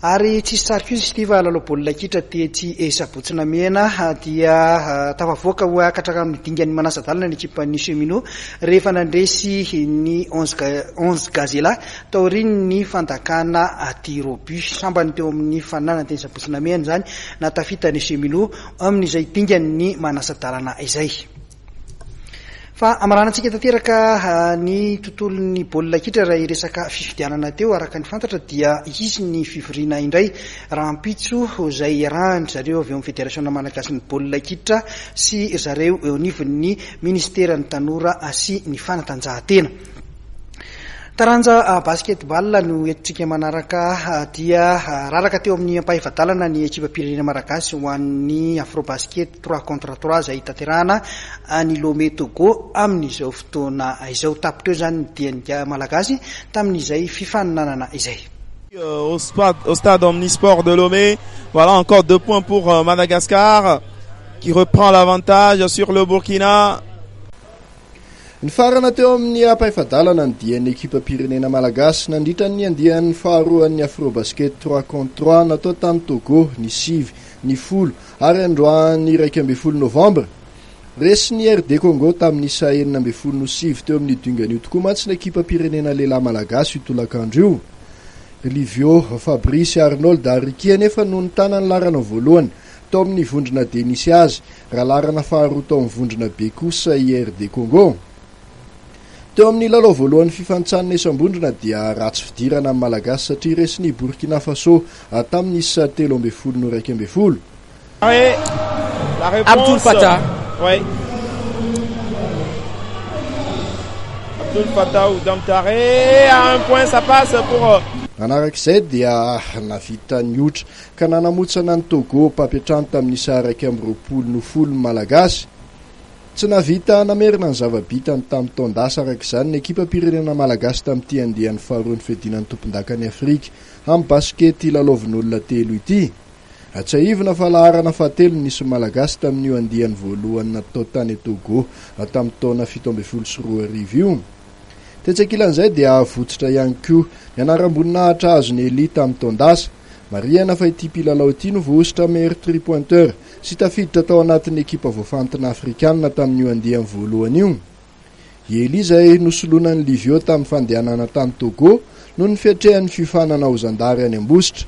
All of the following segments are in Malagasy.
Ary tsy hisy tsary fihozy ity fa lalao baolina kitra tetsy Sabotsy-Namena dia tafavoaka ho akatra amin'ny dingan'ny manasa-dalana ny ekipan'ny Cheminots rehefa nandresy ny Onze Gazela taorian'ny fandakana tir au but. Sambany teo amin'ny faninana teny Sabotsy-Namena izany nahatafita ny Cheminots amin'izay dingan'ny manasa-dalana izay. Fa hamaranantsika tanteraka ny tontolon'ny baolina kitra raha hiresaka fifidianana teo, araka ny fantatra dia hisy ny fivoriana indray rahampitso izay iarahan-dry zareo avy eo amin'ny Federasiona malagasin'ny baolina kitra sy ry zareo eo anivon'ny Minisiteran'ny tanora sy ny fanatanjahantena. Taranja Basketball no entintsika manaraka dia raraka teo amin'ny ampahefa-dalana ny ekipam-pirenena malagasy ho an'ny Afrobasket Trois contre trois izay hitanterahana any Lomé, Togo amin'izao fotoana izao. Tapitra eo izany ny dian'ny Ga Malagasy tamin'izay fifaninanana izay. au stade omnisport de Lomé voilà encore deux points pour euh, Madagascar qui reprend l'avantage sur le Burkina Nifarana teo amin'ny ampahefa-dalana ny dian'ny ekipam-pirenena malagasy nandritra ny andiany faharoan'ny Afrobasket 3 contre 3 natao tany Togo ny sivy, ny folo Ary androany iraika ambin'ny folo novambra, resin'ny RD Congo tamin'ny isa enina ambin'ny folo no sivy teo amin'io dingana io tokoa mantsy ny ekipam-pirenena lehilahy malagasy io tolakandro io. Ry Livio, Fabrice sy Arnold ary Ricky anefa no nitana ny laharana voalohany tao amin'ny vondrona D nisy azy, raha laharana faharoa tao amin'ny vondrona B kosa i RD Congo. Teo amin'ny lalao voalohan'ny fifanintsanana isam-bondrona dia ratsy fidirana ny Malagasy satria resin'i Burkina Faso tamin'ny isa telo ambin'ny folo no iraika ambin'ny folo. Abdoul Fattah Nanaraka izay dia navita ny otra ka nanamotsana an'i Togo mpampiantrano tamin'ny isa iraika amby roapolo noho folo ny Malagasy. Tsy nahavita namerina ny zava-bitany tamin'ny taon-dasa araka izany ny ekipam-pirenena malagasy tamin'ity andiany faharoa ny fiadiana ny tompondakan'i Afrika amin'ny basikety lalaovin'olona telo ity. Hatsiahivina fa laharana fahatelo no nisy ny Malagasy tamin'io andiany voalohany natao tany Togo tamin'ny taona fito ambin'ny folo sy roa arivo io. Tetsy ankilan'izay dia avotsitra ihany koa ny anaram-boninahitra azon'i Elie tamin'ny taon-dasa. Marihana fa ity mpilalao ity no voahosotra meilleur three-pointeur Tsy tafiditra tao anatin'ny ekipa voafantina afrikanina tamin'io andiany voalohany io i Elie izay nosoloina an'i Livio tamin'ny fandehanana tany Togo noho ny fiatrehan'ny fiofanana ho zandary any Ambositra.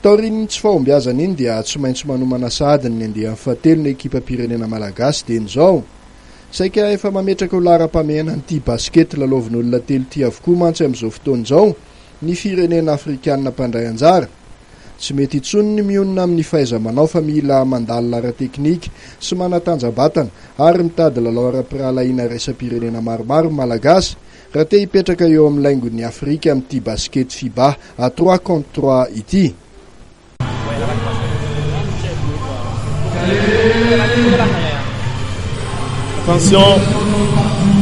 Taorian'iny tsy fahombiazana iny dia tsy maintsy manomana sahady ny andiany fahatelo ny ekipam-pirenena malagasy dieny izao. Saika efa mametraka ho laharam-pahamehana ny tia basikety lalaovin'olona telo ity avokoa mantsy amin'izao fotoana izao ny firenena afrikanina mpandray anjara. Tsy mety intsony ny mionona amin'ny fahaiza-manao fa mila mandalina ara-teknika sy manatanja-batana ary mitady lalao ara-pirahalahiana raisam-pirenena maromaro ny Malagasy raha te hipetraka eo amin'ny laingon'i Afrika amin'ity basikety Fiba à trois contre trois ity.